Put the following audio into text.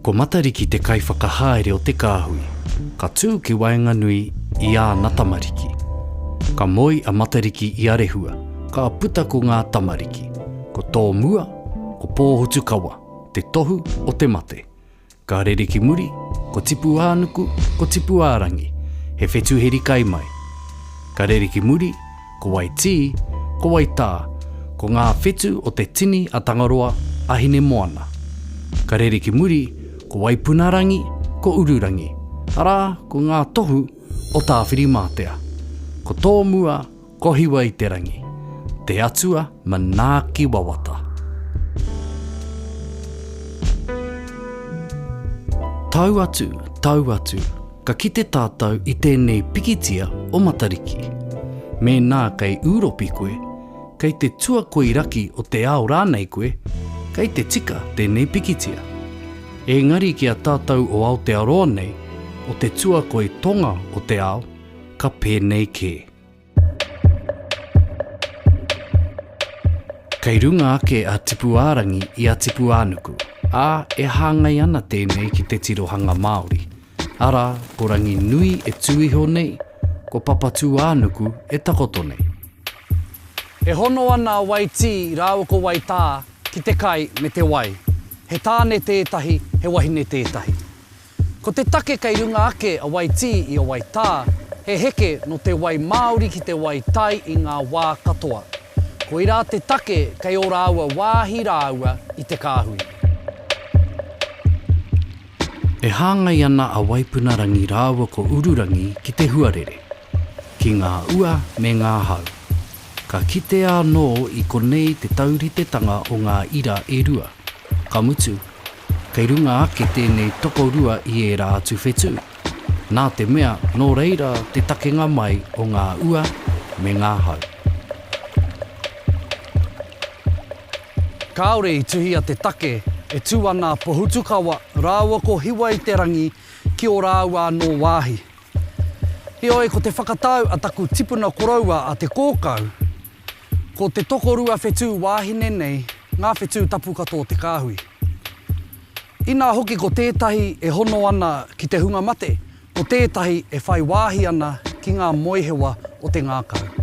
Ko Matariki te kaiwhakahaere o te kāhui, ka tū ki waenganui i āna tamariki. Ka moe a Matariki i a Rehua, ka puta ko ngā tamariki, ko Tōmua, ko Pōhutukawa, te tohu o te mate. Ka rere ki muri, ko Tipuānuku, ko Tipuārangi, he whetu heri kai mai. Ka rere ki muri, ko Waitī, ko Waitā, ko ngā whetu o te tini a Tangaroa, a Hinemoana. Ka rere ki muri, ko Waipunarangi, ko Ururangi, arā, ko ngā tohu o Tāwhirimātea. Ko tōmua, Kohiwa i te rangi, te Atua manaaki wawata. Tau atu, tau atu, ka kite tātou i tēnei pikitia o Matariki. Mēnā kei Ūropi koe, kei te tuakoi raki o te ao rānei koe, kei te tika tēnei pikitia. Engari ki a tātou o Aotearoa nei, o te tuakoi tonga o te ao, ka pēnei kē. Kei runga ake a Tipuārangi i a Tipuānuku, ā, e hāngai ana tēnei ki te tirohanga Māori, arā, ko Ranginui e tū iho nei, ko Papatūānuku e takoto nei. E hono ana a Waitī rāua ko Waitā ki te kai me te wai. He tāne tētahi, he wahine tētahi. Ko te take kei runga ake a Waitī i a Waitā, he heke nō te wai māori ki te wai tai i ngā wā katoa. Koirā te take kei ō rāua wāhi rāua i te kāhui. E hāngai ana a Waipuna Rangi rāua ko Ururangi ki te huarere. ki ngā ua me ngā hau. Ka kitea anō i konei te tauritetanga o ngā ira e rua, ka mutu, kei runga ake tēnei tokorua i ērā atu whetū, nā te mea nō reira te takenga mai o ngā ua me ngā hau. Kāore i tuhia te take e tū ana a Pohutukawa rāua ko Hiwa-i-te-rangi ki ō rāua anō wāhi. Heoi, ko te whakatau a taku tipuna koroua a Te Kōkau, ko te tokorua whetū wāhine nei ngā whetū tapu katoa o te kāhui. Inā hoki ko tētahi e hono ana ki te hunga mate, ko tētahi e whai wāhi ana ki ngā moehewa o te ngākau.